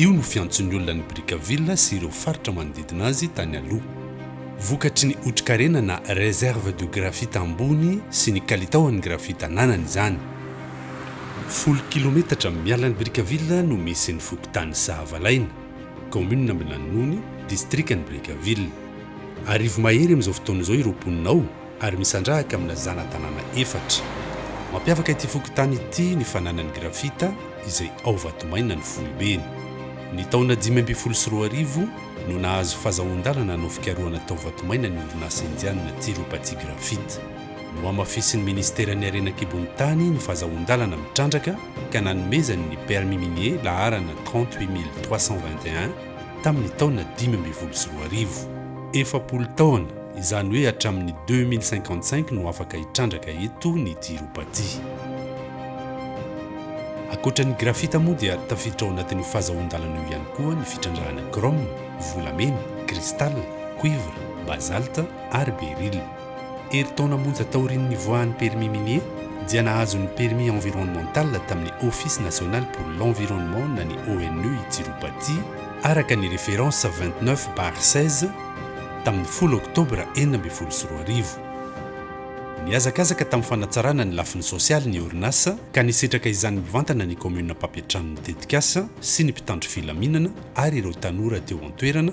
Io no fiantson'ny olona an'i Brickaville sy ireo faritra manodidina azy tany aloha. Vokatry ny otrikarena na réserve de graphite ambony sy ny kalitaon'ny graphite ananany izany. Folo kilometatra miala an'i Brickaville no misy ny fokontany Sahavalaina, kaominina Ambinanony, distrikan'i Brickaville. Arivo mahery amin'izao fotoana izao ireo mponina ao. ary misandrahaka amina zana-tanàna efatra. Mampiavaka ity fokontany ity ny fananany grafita izay ao Vatomaina ny foibeny. Ny taona dimy ambin'ny folo sy roa arivo no nahazo fazahoan-dalana hanao fikarohana tao Vatomaina ny orinasa indianina Tirupati Graphite. Nohamafisin'ny Ministeran'ny Harena An-kibon'ny Tany ny fazahoan-dalana mitrandraka ka nanomezany ny permis minier laharana trente-huit mille trois cent vingt et un, tamin'ny taona dimy ambin'ny folo sy roa arivo. Efapolo taona, izany hoe hatramin'ny deux mille cinquante cinq no afaka hitrandraka eto ny Tiropatia. Ankoatra ny grafita moa dia tafiditra ao anatin'io fahazahoan-dalana io ihany koa ny fitrandrahana chrome, volamena, cristal, cuivre, basalte ary beryl. Herintaona monja taorian'ny nivoahan'ny permis minier dia nahazo ny permis environnemental tamin'ny Office National pour l'Environnement na ny ONE i Tirupati, araka ny référence vingt neuf bar seize, tamin'ny folo oktobra enina ambin'ny folo sy roa arivo. Nihazakazaka tamin'ny fanatsarana ny lafiny sosialy ny orinasa ka nisetraka izany mivantana ny kaominina mpampiantrano ny tetikasa sy ny mpitandro filaminana ary ireo tanora teo an-toerana,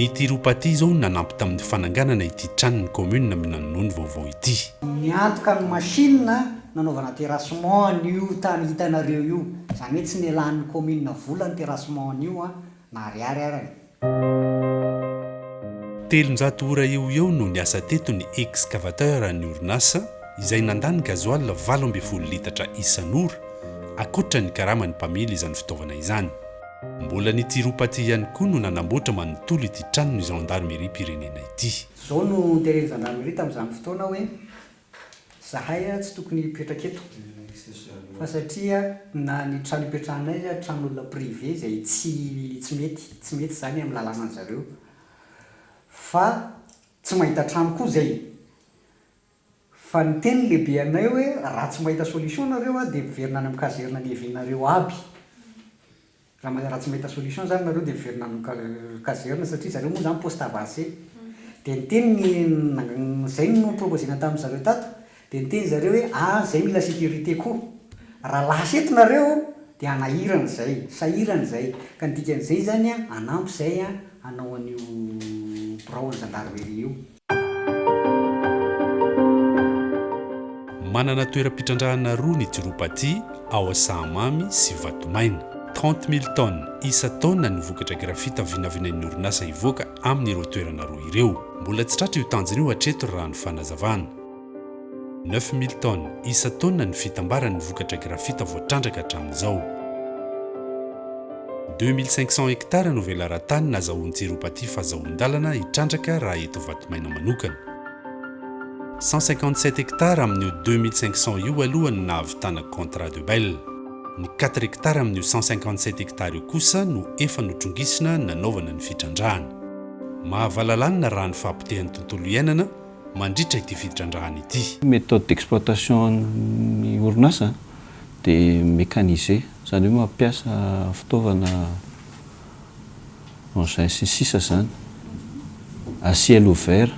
Ny Tiropaty izao no nanampy tamin'ny fananganana ity tranon'ny kaominina Minanonony vaovao ity. Niantoka ny machine nanaovana terrassement an'io tany hitanareo io. Izany hoe tsy nialan'ny kaominina vola ny terrassement an'io na ariary ara e. Telonjato ora eo ho eo no niasa teto ny excavateur an'ny orinasa izay nandà ny gasoil valo ambin'ny folo litatra isan'ora, ankoatra ny karaman'ny mpamily izany fitaovana izany. Mbola ny Tirupati ihany koa no nanamboatra manontolo ity tranon'ny Zandarimeriam-pirenena ity. Izao no teren'ny Zandarimeri tamin'izany fotoana hoe, zahay tsy tokony hipetraka eto fa satria na ny trano ipetrahanay aza tranon'olona privé izay tsy tsy mety, tsy mety izany amin'ny lalàna an'zareo fa tsy mahita trano koa izay. Fa niteny ny lehibeanay hoe raha tsy mahita solution nareo a dia miverina any amin'ny kazerina niavianareo aby. Raha tsy mahita solution zany nareo dia miverina any amin'ny kazerina satria zareo moa zany poste avancé. Dia niteny ny izay no noproposena tamin'ny zareo tato dia niteny zareo hoe a zay mila sécurité koa. Raha lasa eto nareo dia hanahirana izay, sahirana izay. Ka ny dikan'izay zany a hanampy izay a hanao an'io birao an'ny gendarmerie io. Manana toeram-pitrandrahana roa ny Tirupati, ao Asahamamy sy Vatomaina. Trente mille tonnes isan-taona ny vokatra grafita vinavinain'ny orinasa hivoaka amin'ireo toerana roa ireo. Mbola tsy tratra io tanjona io hatreto raha ny fanazavana. Neuf mille tonnes isan-taona ny fitambaran'ny vokatra grafita voatrandraka hatramin'izao. Deux mille cinq cents hectares no velaran-tany nazahoan-tsiropatia fazahoan-dalana hitrandraka raha eto Vatomainan manokana. Cent cinquante sept hectares amin'io deux mille cinq cents io aloha no nahavitana contrat de bail. Ny quatre hectares amin'io cent cinquante sept hectares io kosa no efa notrongisina nanaovana ny fitrandrahana. Mahavalalanina raha ny fahapotehan'ny tontolo iainana, mandritra ity fitrandrahana ity. Méthode d'exploitation ny orinasa dia mécanisé, izany hoe mampiasa fitaovana engins sy ny sisa izany à ciel ouvert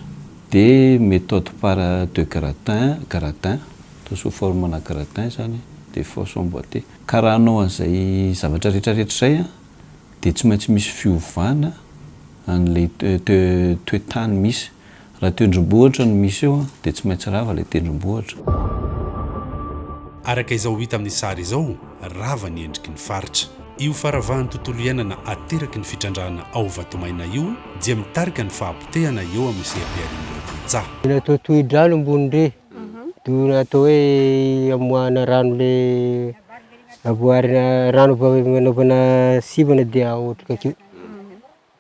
dia méthode par de gratin, gradin, atao sous forme ana gradin izany dia fosse emboîtée. Ka raha hanao an'izay zavatra rehetra rehetra izay dia tsy maintsy misy fiovana an'ilay toe-tany misy. Raha tendrombohitra no misy eo dia tsy maintsy rava ilay tendrombohitra. Araka izao hita amin'ny sary izao, rava ny endriky ny faritra. Io faravahan'ny tontolo iainana ateraky ny fitrandrahana ao Vatomaina io dia mitarika ny fahapotehana eo amin'ny seham-piharian'ireo tantsaha. Mbola toa tohi-drano ambony re, doa atao hoe amoahana rano le avoarina rano avy anaovana sivana dia aotrika akeo.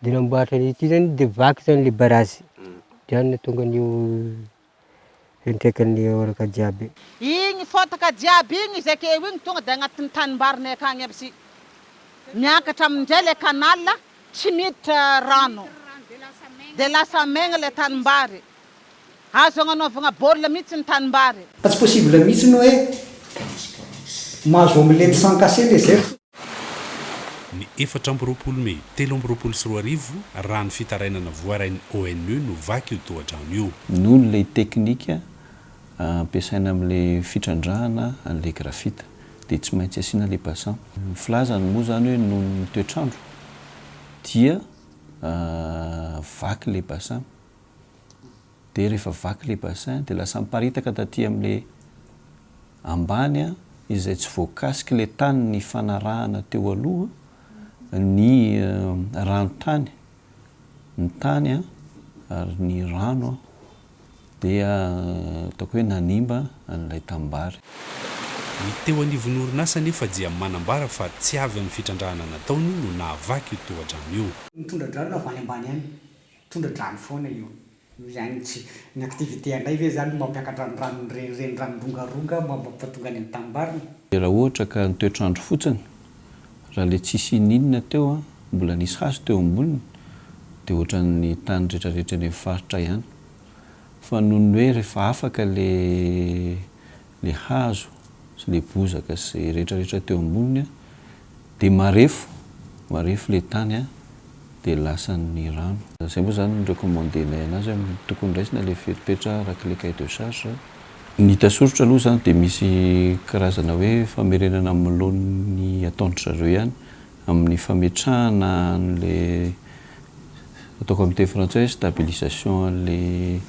Dia namboaritra an'io, ity zany dia vaky zany le barazy, dia any no tonga an'io fiantraikan'ny oraka jiaby. Igny fotaka jiaby igny izay ke eo igny tonga dia agnatin'ny tanimbarinay akagny aby sy miakatra amindray le canal tsy miditra rano dia lasa maigna le tanimbary Azo agnanaovagna baolina mihitsy ny tanimbary. Fa tsy possible mihitsy ny hoe mahazo omelette sans cassé le zef. Ny efatra amby roapolo mey telo amby roapolo sy roa arivo, raha ny fitarainana voarain'ny ONU no vaky io tohadrano io. Noho ilay teknika ampiasaina amin'ilay fitrandrahana an'ilay grafita dia tsy maintsy asiana ilay bassin. Ny filazany moa izany hoe noho ny toetr'andro dia vaky ilay bassin. dia rehefa vaky ilay bassin dia lasa miparitaka taty amin'ilay ambany an, izay tsy voakasik'ilay tany nifanarahana teo aloha ny ranontany, ny tany an, ary ny rano an, dia ataoko hoe nanimba an'ilay tanimbary. Ny teo anivon'ny orinasa anefa dia manambara fa tsy avy amin'ny fitrandrahana nataony no nahavaky io tohadrano io. Nitondra drano avy any ambany any Tondra-drano foana io. Mihaino tsy ny activité andray ve izany no mampiakatra ny ranon'ny reny, ireny ranon-drongaronga mba mampatonga any amin'ny tanimbariny? Dia raha ohatra ka ny toetr'andro fotsiny, raha ilay tsisy ininona teo an, mbola nisy hazo teo amboniny, dia ohatran'ny tany retraretra any amin'ny faritra ihany. Fa noho ny hoe rehefa afaka ilay. ilay hazo sy ilay bozaka sy izay rehetra rehetra teo amboniny dia marefo, marefo ilay tany dia lasan'ny rano. Izay moa izany ny recommande-nay anazy hoe tokony raisina ilay fepetra araka ilay cahier de charge. Ny hita soritra aloha izany dia misy karazana hoe famerenana amin'ny laoniny ataon-dry zareo ihany amin'ny fametrahana an'ilay ataoko amin'ny teny frantsay hoe stabilisation an'ilay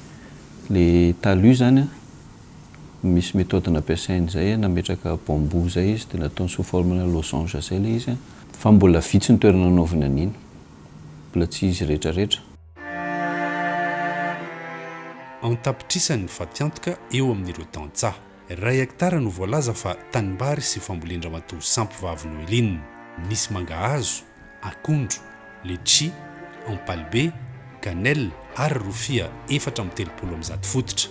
ilay talus izany an. misy methode nampiasainy zay an, nametraka bambou zay izy de nataony sous forme na losange zay le izy an. Fa mbola vitsy ny toerana anaovany an'iny. Mbola tsy izy retraretra. An-tapitrisany ny fatiantoka eo amin'ireo tantsaha. Iray hectare no voalaza fa tanimbary sy fambolendramatoa sampy vavy Noeline. Misy mangahazo, akondro, letchi, ampalibe, cannelle ary rofia efatra amby telopolo amby zato fototra.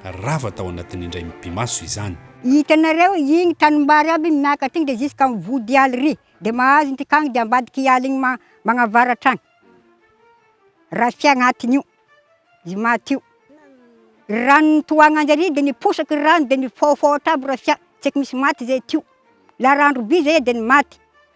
Rava tao anatin'ny indray mipi-maso izany. Hitanareo igny tanimbary aby igny miakatra igny de jusqu'à am vody ialy ry de mahazo ny tikagniny de ambadiky ialy igny ma- magnavaratra agny rafia agnatiny io izy maty io, ry rano nitohagna njare de niposaky ry rano de nifaofaotra aby rafia, tsy eky misy maty zay teo, laha r'andro be zay de ny maty.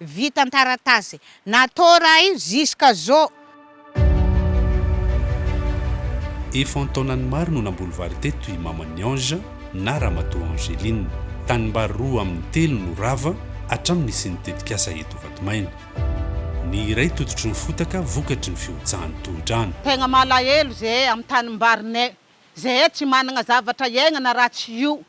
Vita an-taratasy. Natao raha io jusqu'à zao. Efa an-taonany maro no namboly vary teto i Maman'i Ange na Ramatoa Angeline. Tanimbary roa amin'ny telo no rava hatramin'ny nisian'ny tetikasa eto Vatomena. Ny iray tototry ny fotaka vokatry ny fihotsahan'ny tohodrano. Tegna malahelo zahay amin'ny tanimbarinay. Zahay tsy managna zavatra hiaignana raha tsy io.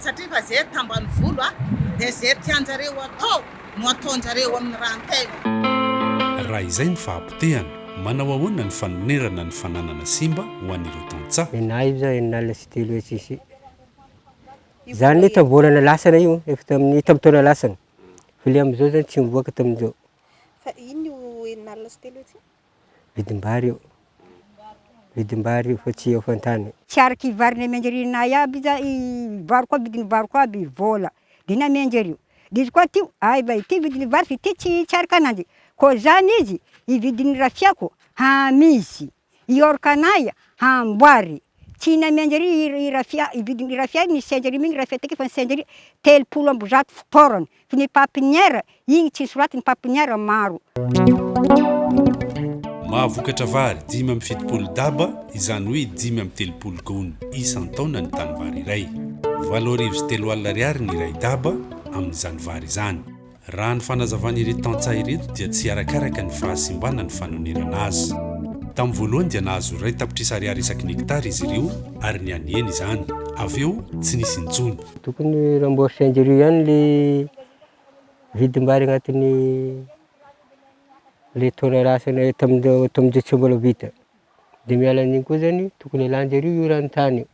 satria fa ze tambanivolo a dia ze tianjareo atao no ataonjareo amin'ny rahan-tena. Raha izay no fahapotehana, manao ahoana ny fanonerana ny fananana simba ho an'ireo tantsaha? Enahy io zany, enina alina sy telo hetsy sy zany anie tamin'ny volana lasana io, efa tamin'ny tamin'ny taona lasana, fa le amzao zany tsy mivoaka tamin'izao. Fa inn io enina alina sy telo hetsy io? vidim-bary io, vidim-bary io fa tsy eo fan-tany. Tsy araka i vary namianjeriana ahy aby za i vary koa vidin'ny vary koa aby vola de namianjerio de izy koa ty ay va ity vidin'ny vary fa ity tsy tsy araka ananjy koa zany izy i vidin'ny rafiako hamisy i ôrka anay hamboary tsy namianjery i rafia i vidin'ny rafia nisy tsy anjeriminy rafia takeo fa nisy tsy anjery telopolo amby zato fitaorana Ny papiniera, igny tsy soraty ny papiniera maro. Mahavokatra vary dimy amby fitopolo daba, izany hoe dimy amby telopolo goun, isan-taona ny tanivary iray. Valo arivo sy telo alina ariary ny iray daba amin'izany vary izany. Raha ny fanazavan'ireto tantsaha ireto dia tsy arakaraka ny fahasimbana ny fanonerana azy. Tamin'ny voalohany dia nahazo iray tapitrisa ariary isaky ny hektara izy ireo ary nianiany izany. Avy eo, tsy nisy intsony. Tokony remboursen'jreo ihany le vidim-bary agnatin'ny le taona lasa le tamin-dre- tamin-dre tsy mbola vita, de miala an'iny koa zany tokony alan-jareo io rano tany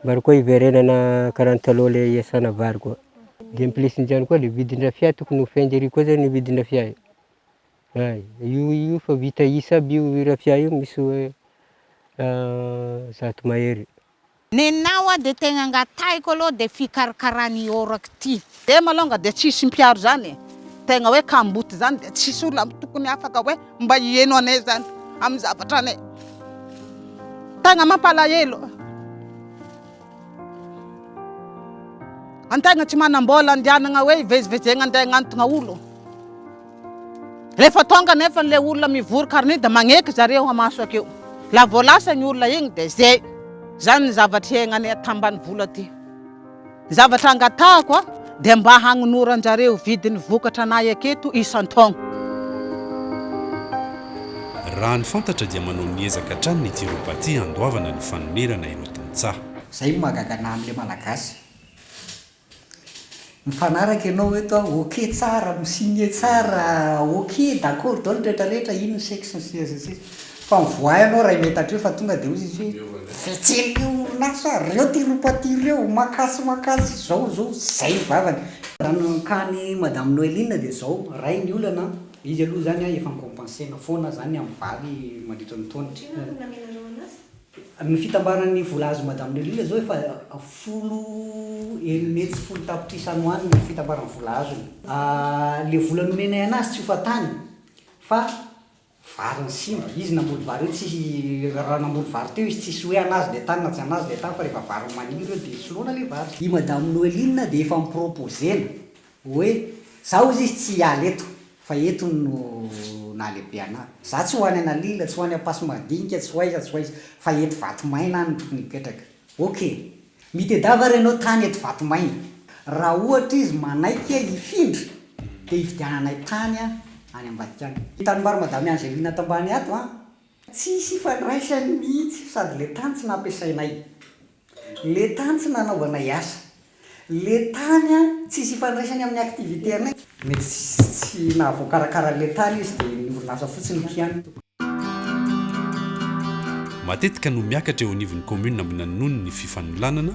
mba ary koa hiverenana karaha ny taloha le hiasana vary koa, de en plus n'zany koa le vidin-drafia tokony hofain-jareo koa zany le vidin-drafia e, hay, io io fa vita isa aby io rafia io misy hoe zato mahery. Nenao a de tegna angatahiko aloha de fikarakarana i oraky ity. Dem alonga de tsisy mpiaro zany e! Tegna hoe kamboty zany de tsisy olona tokony afaka hoe mba hieno anay zany amin'ny zavatra anay. Tegna mampalahelo. Antegna tsy manam-bola andianagna hoe hivezivezegna andeha hagnantogna olo. Rehefa tonga nefany le olona mivory karniny de magneky zareo amaso akeo. La vao lasa igny olona igny de zay. Zany ny zavatra iaignanay aty ambanivolo aty. Ny zavatra angatahako a, de mba hagnonoranjareo vidin'ny vokatra anay aketo isan-taogno. Raha ny fantatra dia manao ny ezaka hatrany ny Tirobati handoavana ny fanonerana ireo tantsaha. Zay no mahagaga anah amle malagasy. Mifanaraka ianao eto a, ok tsara, mi-signe tsara, ok d'accord daholo ny retraretra, ino ny sexe sy ny sisa sy ny sisa. Fa mivoaha ianao iray mey tatreo fa tonga dia hoy izy hoe, mivezivezy le orinasa, reo ty ropa ty reo, makasy makasy, zao zao, zay ny vavany. Raha ny cas ny madame Noeline dia zao, ray ny olana an, izy aloha zany an efa ni-compenser-na foana zany amin'ny vary mandritra ny taona. Inona no namenareo anazy? Ny fitambaran'ny vola azon'i Madame Lelina izao efa folo eny mety tsy folo tapitrisa any ho any ny fitambaran'ny vola azony. Ilay vola nomenay anazy tsy ho fahatany fa vary ny simba. Izy namboly vary eo tsy, raha namboly vary teo izy tsisy hoe anazy ilay tany na tsy anazy ilay tany fa rehefa vary maniry eo dia soloana ilay vary. I Madame Noeline dia efa am-propose-na Hoe za hozy izy tsy hiala eto fa eto no nahalehibe anah. Za tsy ho any Analila, tsy ho any Ampasimadinika, tsy ho aiza, tsy ho aiza fa eto Vatomaina aho no tokony hipetraka. Ok, mitedava ary ianao tany eto Vatomaina. Raha ohatra izy manaiky hifindra dia hividiananay tany any ambadika any. Tanimbary Madame Angelina Tambaniato a. Tsy hisy hifandraisany mihitsy sady le tany tsy nampiasainay, le tany tsy nanaovanay asa, le tany an tsy hisy hifandraisany amin'ny activité anay. Mety tsy nahavoakarakara an'le tany izy dia ny orinasa fotsiny ny kianina. Matetika no miakatra eo anivon'ny Commune Ambinanonony ny fifanolanana.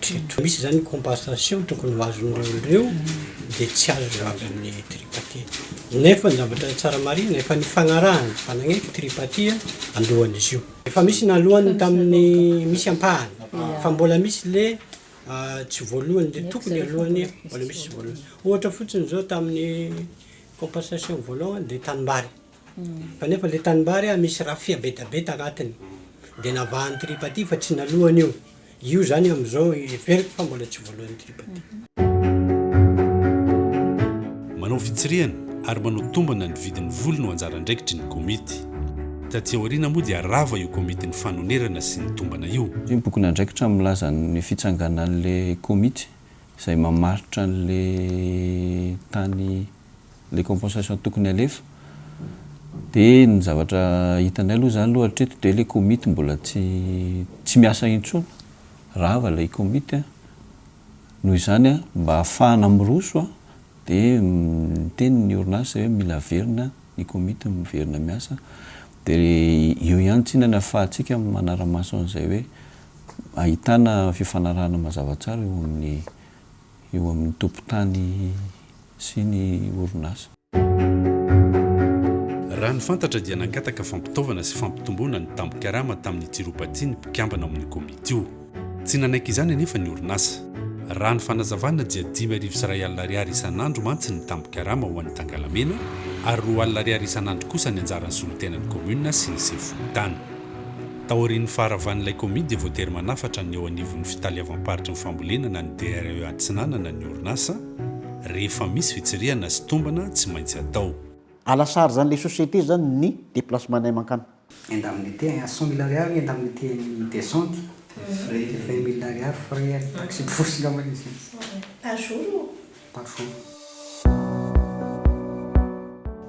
Tritry misy izany compensation tokony ho azon'ireo ireo dia tsy azo amin'ny tripartite. Nefa ny zavatra tsara marihina efa nifagnarahana fa nagnaiky tripartie alohan'izy io. Efa misy naloany tamin'ny misy ampahany fa mbola misy le tsy voalohany le tokony alohany mbola misy tsy voalohany. Ohatra fotsiny zao tamin'ny compensation voalohany dia tanimbary. Kanefa le tanimbary a misy rafia bedabe tanatiny de navahan'ny tripaty fa tsy nalohany io, io zany amzao heveriko fa mbola tsy voaloan'ny tripaty. Manao fitsirihana ary manao tombana ny vidin'ny voly no anjara andraikitry ny komity. Taty aoriana moa dia rava io komitin'ny fanonerana sy ny tombana io. Io bokin'andraikitra milaza ny fitsanganan'le komity izay mamaritra an'le tany ilay compensation tokony halefa dia ny zavatra hitanay aloha izany aloha hatreto dia ilay komity mbola tsy tsy miasa intsony, rava ilay komity an! noho izany mba hahafahana miroso an! dia niteny ny orinasa hoe mila averina ny komity miverina miasa dia eo ihany tsinona ny ahafahantsika manara-maso an'izay hoe ahitana fifanarahana mazava tsara eo amin'ny eo amin'ny tompon-tany sy ny orinasa. Raha ny fantatra dia nangataka fampitaovana sy fampitomboana ny tambin-karama tamin'ny Tiropatia ny mpikambana ao amin'ny komity io. Tsy nanaiky izany anefa ny orinasa. Raha ny fanazavana dia dimy arivo sy iray alina ariary isan'andro mantsy ny tambin-karama ho an'ny Tangalamena ary roa alina ariary isan'andro kosa ny anjaran'ny solontenan'ny kaominina sy ny sefo fokontany. Taorian'ny faharavan'ilay kaomy dia voatery manafatra ny eo anivon'ny Fitaleavam-paritry ny Fambolena na ny DRE Atsinanana ny orinasa rehefa misy fitsirihana sy tombana tsy maintsy atao. A la charge an'ilay société izany ny déplacement-nay mankany. Indemnité à cent mille ariary, indemnité amin'ny descente, frais vingt mille ariary, frais taxi-brousse angambany izy io. Par jour ou Tafo.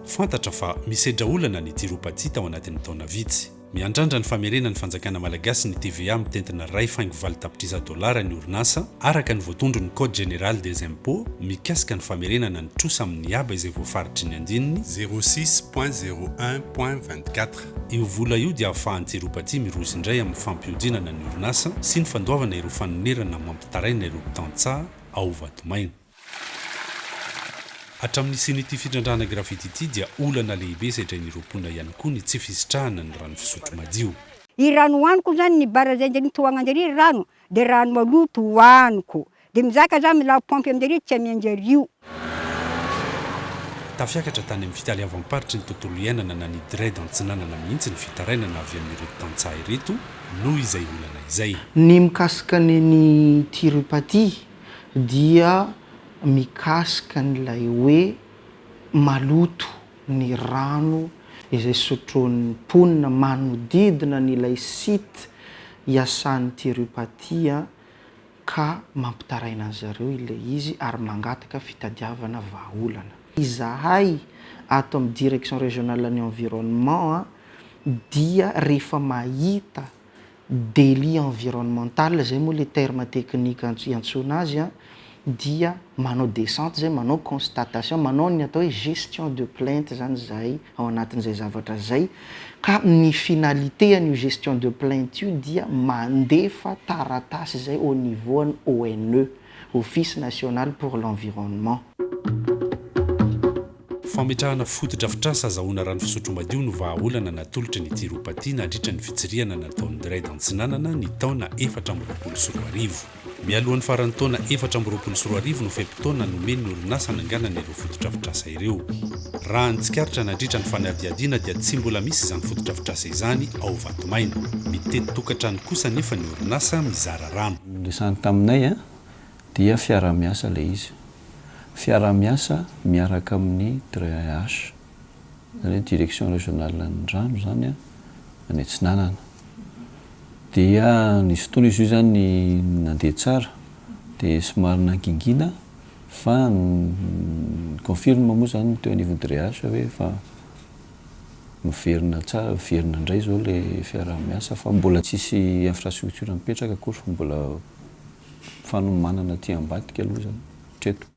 Fantatra fa misedra olana ny Tiropatia tao anatin'ny taona vitsy. Miandrandra ny famerenan'ny fanjakana malagasy ny TVA mitentina iray faingo valo tapitrisa dolara ny orinasa, araka ny voatondron'ny Code général des impôts mikasika ny famerenana ny trosa amin'ny haba izay voafaritry ny andininy, zéro six point zéro un point vingt quatre. Io vola io dia ahafahan'ny Tiropatia miroso indray amin'ny fampihodinana ny orinasa sy ny fandoavana ireo fanonerana mampitaraina ireo mpitantsaha, ao Vatomaina. Hatramin'ny hisian'ity fitrandrahana graffiti ity dia olana lehibe sedrain'ireo mponina ihany koa ny tsy fisitrahana ny rano fisotro madio. I rano hoaniko zany ny bara zay ndry mitohagna ndry rano de rano maloto hoaniko de mizaka za milà pompy amindry tsy amiandry ario. Tafiakatra tany amin'ny fitaleavam-paritry ny tontolo iainana na ny DRED Antsinanana mihitsy ny fitarainana avy amin'ireo tantsaha ireto, noho izay olana izay. Ny mikasika ny an'i Tirupati dia mikasika an'ilay hoe maloto ny rano izay sotroin'ny mponina manodidina an'ilay site iasan'i Tirupati an, ka mampitaraina an-dry zareo ilay izy ary mangataka fitadiavana vahaolana. Izahay ato amin'ny Direction Régionale ny Environnement dia rehefa mahita délit environnemental, izay moa ilay terme technique iantsoana azy, dia manao descente izay, manao constatation, manao ny atao hoe gestion de plainte izany izahay ao anatin'izay zavatra izay ka ny finalité an'io gestion de plainte io dia mandefa taratasy izay au niveau an'ny ONE, Office National pour l'Environnement. Fametrahana fotodrafitrasa azahoana rano fisotro madio no vahaolana natolotry ny Tiropaty nandritra ny fitsirihana nataon'ny Dred Antsinanana ny taona efatra amby roapolo sy roa arivo. Mialohan'ny faran'ny taona efatra amby roapolo sy roa arivo no fe-potoana nomen'ny orinasa hananganana ireo fotodrafitrasa ireo. Raha ny tsikaritra nandritra ny fanadihadiana dia tsy mbola misy izany fotodrafitrasa izany ao Vatomaina. Mitety tokantrano kosa anefa ny orinasa mizara rano. Niresahany taminay dia fiaraha-miasa ilay izy. Fiaraha-miasa miaraka amin'ny DREH. izany hoe direction régionale ny rano izany an, any atsinanana. Dia nisy fotoana izy io izany nandeha tsara, dia somary nangingina, fa ny confirme moa izany teo anivon'ny DREH hoe efa miverina tsara, miverina indray izao ilay fiaraha-miasa, fa mbola tsisy infrastructure mipetraka akory fa mbola fanomanana aty ambadika aloha izany hatreto.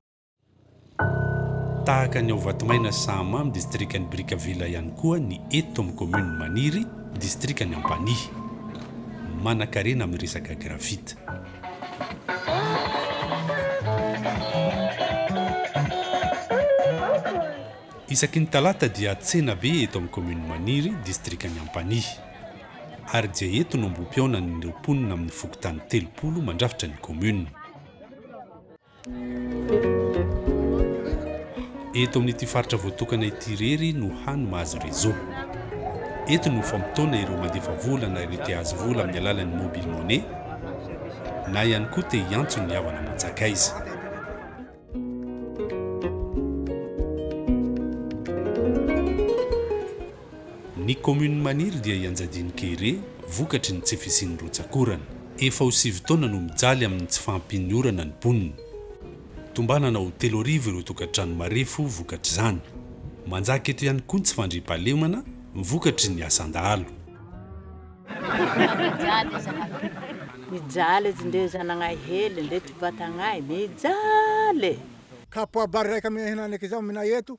Tahaka ny ao Vatomaina sy Sahamamy distrikan'i Brickaville ihany koa ny eto amin'ny kaominina Maniry distrikan'i Ampanihy. Manankarena amin'ny resaka gravite. Isaky ny talata dia tsena be eto amin'ny kaominina Maniry distrikan'i Ampanihy. Ary dia eto no ambohipihaonan'ireo mponina amin'ny fokontany telopolo mandrafitra ny kaominina. Eto amin'ity faritra voatokana ity irery no hany mahazo réseau. Eto no famotoana ireo mandefa vola na ireo te azo vola amin'ny alalan'ny mobile money na ihany koa te hiantso ny havana aman-tsakaiza. Ny kaominina maniry dia i Anjadino Kere vokatry ny tsy fisian'ny rotsak'orana. Efa ho sivy taona no mijaly amin'ny tsy fahampian'ny orana ny mponina. Tombanana ho telo arivo ireo tokantrano marefo vokatr'izany. Manjaka eto ihany koa ny tsy fandriampahalemana vokatry ny asan-dahalo. Mijaly zanakay. Mijaly etsy ndeha zanagnahy hely ndeha tsy batagnahy mijaly e. Kapoabariraika mihena aneke zao mina eto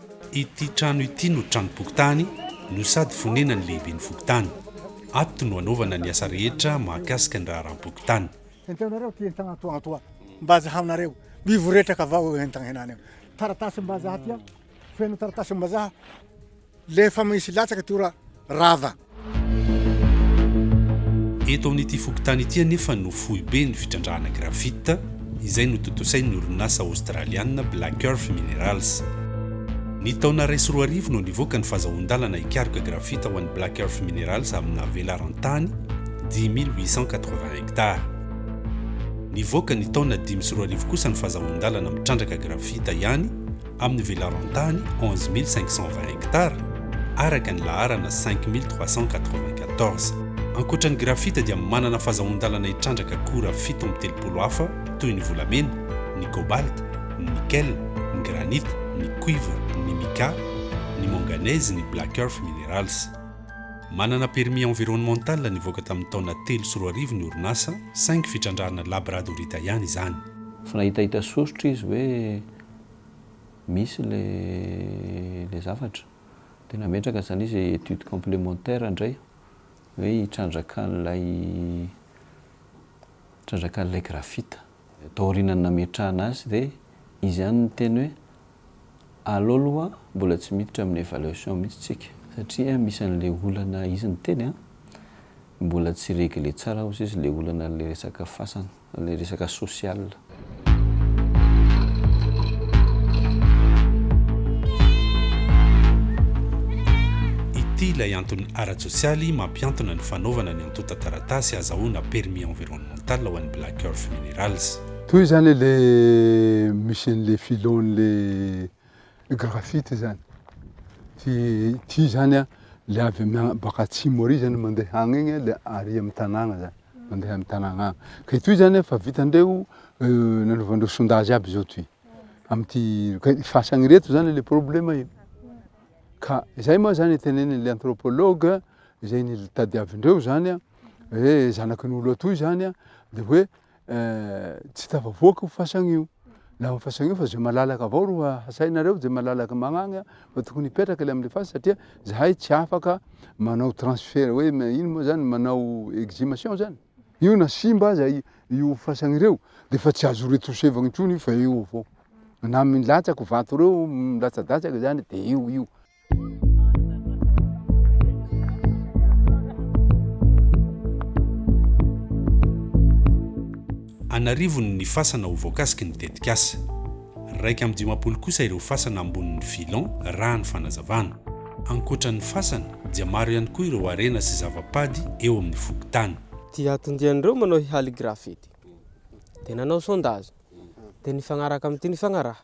Ity trano ity no tranom-pokontany no sady fonenan'ny lehiben'ny fokontany. Ato no anaovana ny asa rehetra mahakasika ny raharaham-pokontany. Hentaonareo ity entana atoa atoa mba azahaonareo mivoretraka avao eo entana henany eo. Taratasim-bazaha aty an, feno taratasim-bazaha le efa misy latsaka ty ora rava. Eto amin'ity fokontany ity anefa no foibe ny fitrandrahana graphite, izay notontosain'ny orinasa Aostraliana Black Earth Minerals. Ny taona iraisy roa arivo no nivoaka ny fazahoan-dalana hikaroka graphite ho an'ny Black Earth Minerals amina velaran-tany dix mille huit cent quatre-vingts hectares. Nivoaka ny taona dimy sy roa arivo kosa ny fazahoan-dalana mitrandraka graphite ihany, amin'ny velaran-tany onze mille cinq cent vingt hectares araka ny laharana cinq mille trois cent quatre-vingt-quatorze. Ankoatra ny graphite dia manana fazahoan-dalana hitrandraka akora fito amby telopolo hafa toy ny volamena, ny cobalt, ny nickel, ny granite, ny cuivre, ny mica, ny manganese, ny black earth minerals. Manana permis environnemental nivoaka tamin'ny taona telo sy roa arivo ny orinasa saingy fitrandrahana labrad horita ihany izany. Tsy nahitahita soritra izy hoe misy ilay ilay zavatra. Dia nametraka izany izy hoe étude complémentaire indray hoe hitrandrakan'ilay hitrandrakan'ilay graphite. Taorianan'ny nametrahana azy dia izy ihany niteny hoe aleo aloha mbola tsy miditra amin'ny évaluation mihitsy isika satria misy an'ilay olana izy niteny an! Mbola tsy regle tsara ozy izy le olana le resaka fasana le resaka social. Ity ilay antony ara-tsosialy mampiantona ny fanaovana ny antontan-taratasy azahoana permis environnemental ho an'ny Black Earth Minerals. Toy izany le mission le filon le. Graphite zany, ty ty zany an le avy amina baka atsimo ary zany mandeha agny igny le ary amy tanàgna zany, mandeha amy tanàgna agny, ka itoy zany an fa vitandreo nanaovandreo sondage aby zao toy, amty ka fasagny reto zany le problema io, ka zay moa zany teneniny le anthropologue zay nitadiavindreo zany an, hoe zanakin'olo atoy zany an de hoe. tsy tafavoaka io fasana io. Laha io fasana io fa zay malalaka avao ro hasainareo, zay malalaka magnagny fa tokony hipetraka le amle fasana satria zahay tsy afaka manao transfert hoe ino moa zany manao exhumation zany. Io na simba aza io fasana ireo de fa tsy azo retouchevagna intsony io fa eo avao. Na milatsaka vato reo milatsadatsaka zany de eo io. an'arivony ny fasana ho voakasiky ny tetikasa. Iraika amby dimampolo kosa ireo fasana ambonin'ny filon, raha ny fanazavana. Ankoatra ny fasana, dia maro ihany koa ireo harena sy zava-pady eo amin'ny fokontany. Dia atodian'ireo manao hihaly graffiti, dia nanao sondage, dia nifagnaraka amin'ity nifagnaraha.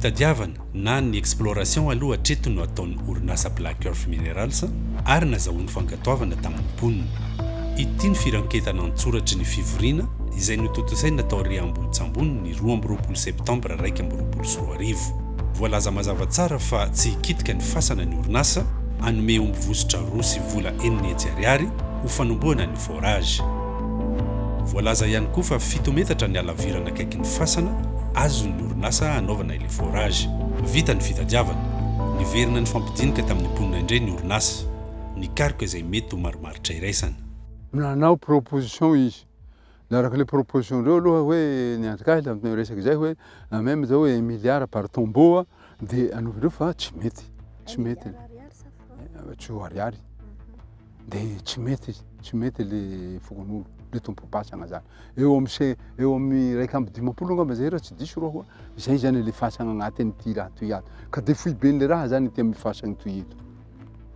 Fitadiavana na ny exploration aloha hatreto no ataon'ny orinasa Black Earth Minerals ary nazahoany fankatoavana tamin'ny mponina. Ity ny firanketana an-tsoratry ny fivoriana izay notontosaina tao Riambohitsambony ny roa amby roapolo septambra iraika amby roapolo sy roa arivo. Voalaza mazava tsara fa tsy hikitika ny fasana ny orinasa, hanome omby vositra roa sy vola enina hetsy ariary ho fanombohana ny. barrage. Voalaza ihany koa fa fito metatra ny halavirana akaiky ny fasana azon'ny orinasa hanaovana ilay forage. Vita ny fitadiavana. Niverina nifampidinika tamin'ny mponina indray ny orinasa. Nikaroka izay mety ho marimaritra iraisana. Nanao proposition izy. Naraka ilay proposition-dreo aloha hoe ny anti-cas tamin'ny tena resaka izay hoe na même izao hoe un milliard par tombeau dia hanaovandreo fa tsy mety. Tsy mety. Tsy ho ariary. dia tsy mety tsy mety le fokonolona le tompopatsana zany eo amin'ny se eo amin'ny raika amby dimampolo angamba zay raha tsy diso roa izay zany le fasana agnatin'ity raha toy ato ka de foiben'le raha zany ity amin'ny fasana toy eto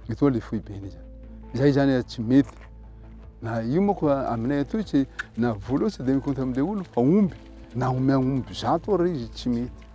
etoa le foibeny zany izay zany tsy mety na io moko aminay atoy tsy na vola tsy de mikonta am'le olo fa omby na omea omby zato ary izy tsy mety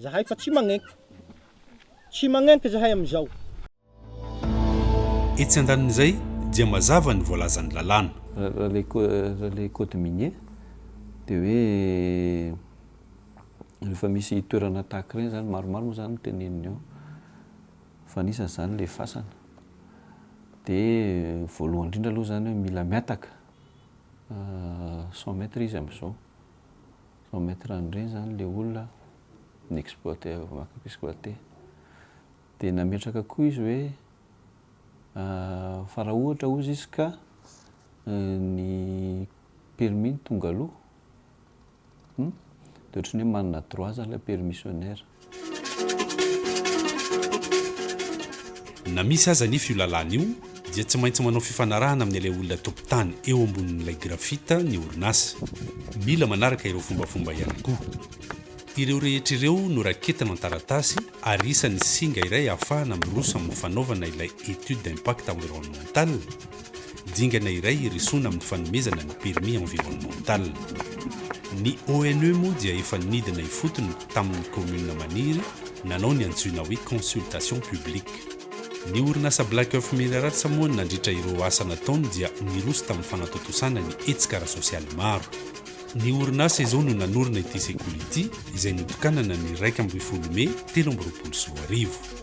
Zahay fa tsy magnenka. Tsy magnenka zahay amin'izao. Etsy andanin'izay dia mazava ny voalazan'ny lalàna. Raha ilay code minier dia hoe rehefa misy toerana tahaka ireny izany, maromaro moa izany no teneniny ao fa anisan'izany ilay fasana. Dia voalohany indrindra aloha izany hoe mila mihataka cent mètres izy amin'izao. Vao maître an'ireny izany ilay olona ni-exploiter avy mankany mpi-squatter. Dia nametraka koa izy hoe fa raha ohatra hozy izy ka ny permis no tonga aloha, dia ohatran'ny hoe manana droit izany ilay permissionnaire. Na misy aza anefa io lalàna io dia tsy maintsy manao fifanarahana amin'ny ilay olona tompon-tany eo ambonin'ilay graphite ny orinasa. Mila manaraka ireo fombafomba ihany koa. Ireo rehetra ireo noraketina an-taratasy ary isan'ny singa iray ahafahana miroso amin'ny fanaovana ilay étude d'impact environnemental, Dingana iray hiresona amin'ny fanomezana ny permis environnemental. Ny ONE moa dia efa nidina ifotony tamin'ny commune maniry nanao ny antsoina hoe consultation publique. Ny orinasa Black Earth Minerals moa nandritra ireo asa nataony dia niroso tamin'ny fanatontosana ny hetsika ara-sosialy maro. Ny orinasa izao no nanorina ity sekoly ity izay notokanana ny iraika ambin'ny folo mey telo amby roapolo sy roa arivo.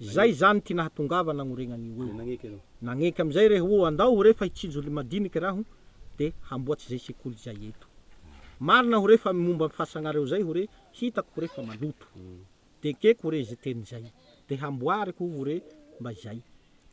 Izay izany ity nahatongava nagnorena an'io eo. Nagneky amin'izay re hoe andao hoe fa hitsinjo olona madinika raho dia hamboatsa izay sekoly izay eto. Marina hoe fa momba ny fahasagnareo izay hoe hitako hoe fa maloto. Dia ekeko hoe izay teny izay. Dia hamboariko hoe mba izay.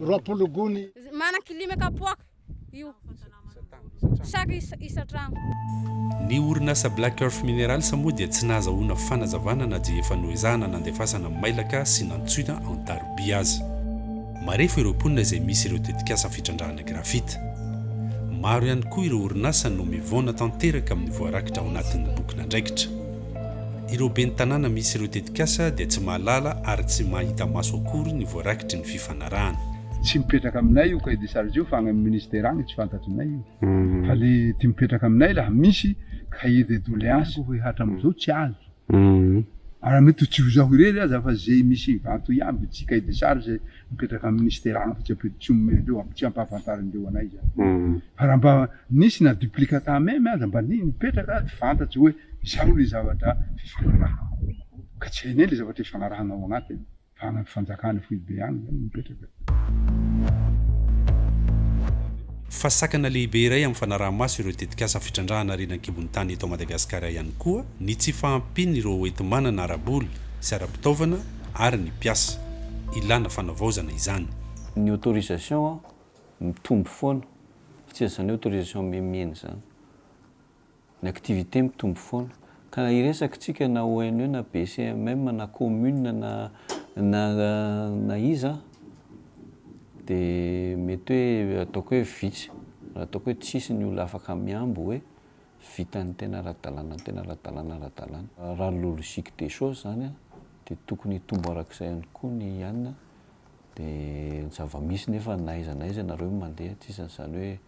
roapolo gony. Manan-kilima kapoaka io chaque isa- isan-tragno. Ny orinasa Black Earth Minerals moa dia tsy nahazahoana fanazavana na dia efa noezahana nandefasana mailaka sy nantsoina an-tarobia aza. Marefo ireo mponina izay misy ireo tetikasa fitrandrahana grafita. Maro ihany koa ireo orinasa no mivaona tanteraka amin'ny voarakitra ao anatin'ny bokin'andraikitra. Ireo ben'ny tanàna misy ireo tetikasa dia tsy mahalala ary tsy mahita maso akory ny voarakitry ny fifanarahana. Tsy mipetraka aminay io cahier des charges io fa any amin'ny ministère any, tsy fantatry ny io. Fa le ty mipetraka aminay raha misy cahier de doléance hoe hatramizao tsy azo. Ary mety ho tsy ho zaho irery aza fa ze misy vato iaby tsy cahier des charges mipetraka amin'ny minisitera hafa tsy ampiry, tsy omena an'ireo, tsy ampahafantarin'ireo anay izany. Fa raha mba nisy na duplicata meme aza mba ni- nipetraka ary fantatra hoe izao ilay zavatra fifanarahana. Ka tsy hainay ilay zavatra ifanarahana ao anatiny fa any amin'ny fanjakana foibe any izany no mipetraka. Fa sakana lehibe iray amin'ny fanaraha-maso ireo tetikasa fitrandrahana harena an-kibon'ny tany eto Madagasikara ihany koa ny tsy fahampian'ireo hoenti-manana ara-bola sy ara-pitaovana ary ny mpiasa. Ilana fanavaozana izany. Ny autorisation mitombo foana fa tsy izany hoe autorisation miha-mihena izany. Ny activité mitombo foana. Ka na hiresaka tsika na ONE na BCMM na commune na na na iza dia mety hoe ataoko hoe vitsy, ataoko hoe tsisy ny olona afaka mihambo hoe vitan'ny tena ara-dalàna ny tena ara-dalàna ara-dalàna. Raha ny logique des choses izany dia tokony hitombo arak'izay ihany koa ny an'ny dia ny zava-misy nefa na aiza na aiza ianareo no mandeha tsy isan'ny izany hoe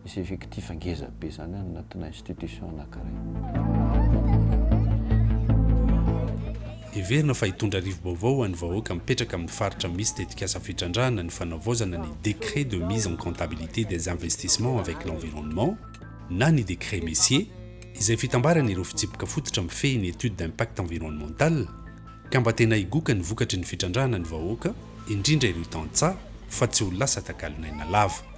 misy effectif ngeza be izany any anatina institution anankiray. Heverina fa hitondra rivo-baovao ho an'ny vahoaka mipetraka amin'ny faritra misy tetikasa fitrandrahana ny fanavaozana ny décret de mise en comptabilité des investissements avec l'environnement, na ny Décret Messier, izay fitambaran' ireo fitsipika fototra mifehy ny étude d'impact environnemental, ka mba tena higoka ny vokatry ny fitrandrahana ny vahoaka, indrindra ireo tantsaha, fa tsy ho lasa takalon'aina lava.